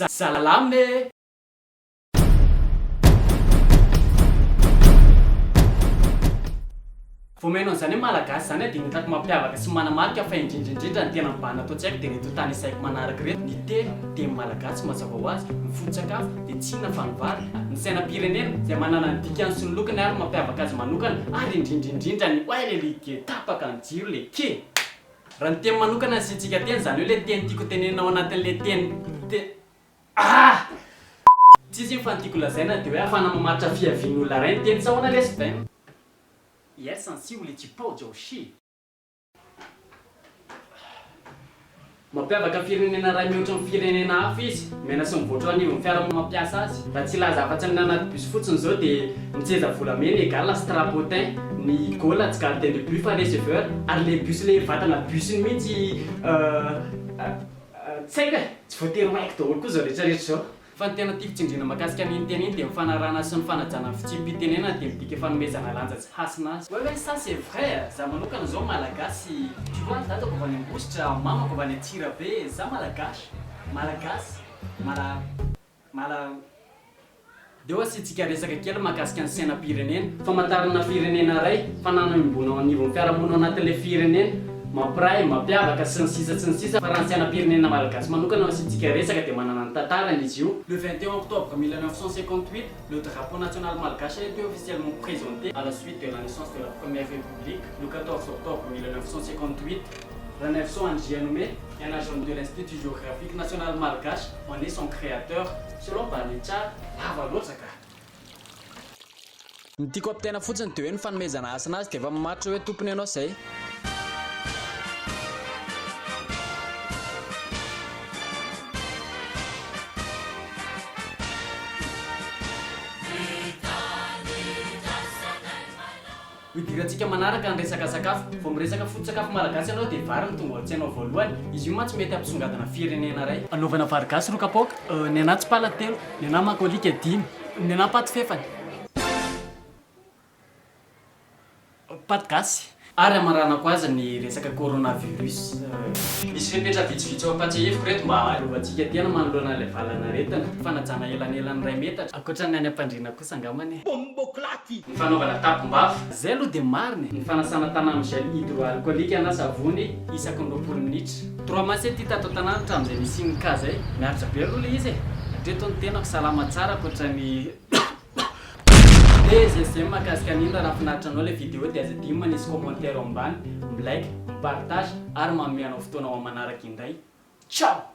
Jalalame e! Vao mihaino an'izany hoe Malagasy izany aho dia ny hitako mampiavaka sy manamarika fa indrindra indrindra ny tena mibahana ato tsy haiko dia ireto tany isaiko manaraka ireto, ny telo teny malagasy mazava ho azy, ny foto-tsakafo dia tsy inona fa ny vary, ny sainam-pirenena izay manana ny dikany sy ny lokony ary ny mampiavaka azy manokana ary indrindra indrindra ny oay le ligue tapaka ny jiro le ke! Raha ny teny manokana asiantsika teny, izany hoe ilay teny tiako tenenina ao anatin'ilay teny te ah! Tsy izy iny fa ny tiako lazaina dia hoe ahafahana mamaritra fiavian'olona iray ny teny tsy ahoana lesy vem? Yes ansi uli chi pao jao shi. Mampiavaka ny firenena iray mihoatra ny firenena hafa izy. Mena sy mivoatra eo anivon'ny fiara no mampiasa azy. Raha tsy hilaza afa-tsy amin'ny anaty bus fotsiny izao dia mitseza volamena égale strapotin ny gola tsy gardien de but fa receveur ary ilay bus ilay vatana bus iny mihitsy tsy haiko e! Tsy voatery ho haiko daholo koa izao rehetra rehetra izao. Fa ny tena tiako tsindriana mahakasika an'iny teny iny dia ny fanarahana sy ny fanajana ny fitsipi-pitenenana dia midika fanomezana lanja tsy hasina azy. Ouais ouais ça c'est vrai eh! Za manokana zao malagasy tu vois dadako avy any ambositra, mamako avy any antsirabe, za malagasy. Malagasy mala mala Deo asiantsika resaka kely mahakasika ny sainam-pirenena. Famantarana firenena iray, fananan'ombona ao anivon'ny fiarahamonina ao anatin'ilay firenena, mampiray, mampiavaka, sy ny sisa sy ny sisa Fa raha ny sainam-pirenena malagasy manokana no asiantsika resaka dia manana ny tantarany izy io, Le 21 octobre 1958, le drapeau national malgache a été officiellement presenté à la suite de la naissance de la première République, le 14 octobre 1958, raha ny avisons Andrianome, et en agent de l'Institut Géographique National Malgache en est son créateur. Selon Banitsa, lava loatra ka. Ny tiako ampitaina fotsiny dia hoe ny fanomezana hasina azy dia efa mamaritra hoe tompony ianao izay. Hidirantsika manaraka ny resaka sakafo. Vao miresaka foto-tsakafo malagasy ianao dia vary no tonga ao an-tsainao voalohany. Izy io mantsy mety hampisongadina firenena iray. Anaovana vary gasy roa kapoaka, ny anà tsipala telo, ny anà makalika dimy, ny anà paty fefany, paty gasy. Ary hamaranako azy ny resaka coronavirus. Misy fepetra vitsivitsy ho ampahatsiahiviko ireto mba hahalovantsika tena manoloana ilay valan'aretina, fanajana elanelan'ny iray metatra, ankoatra ny any am-pandriana koa. kosa angambany e! Bomboclati! Ny fanaovana tapombafo. Zay aloha dia marina e! Ny fanasana tana amin'ny gel hydroalcoolique na savony isaky ny roapolo minitra. Trois mois zay ty tato an-tanàna hatramin'izay nisian'ny cas zay. Miaritra be aloha ilay izy e! Hatreto ny tenako salama tsara ankoatran'ny PGGM mahakasika an'iny raha nahafinaritra anao ilay vidéo dia aza adino manisy commentaire ao ambany, mi-like, mi-partage ary manome anao fotoana ho amanaraka indray. Ciao!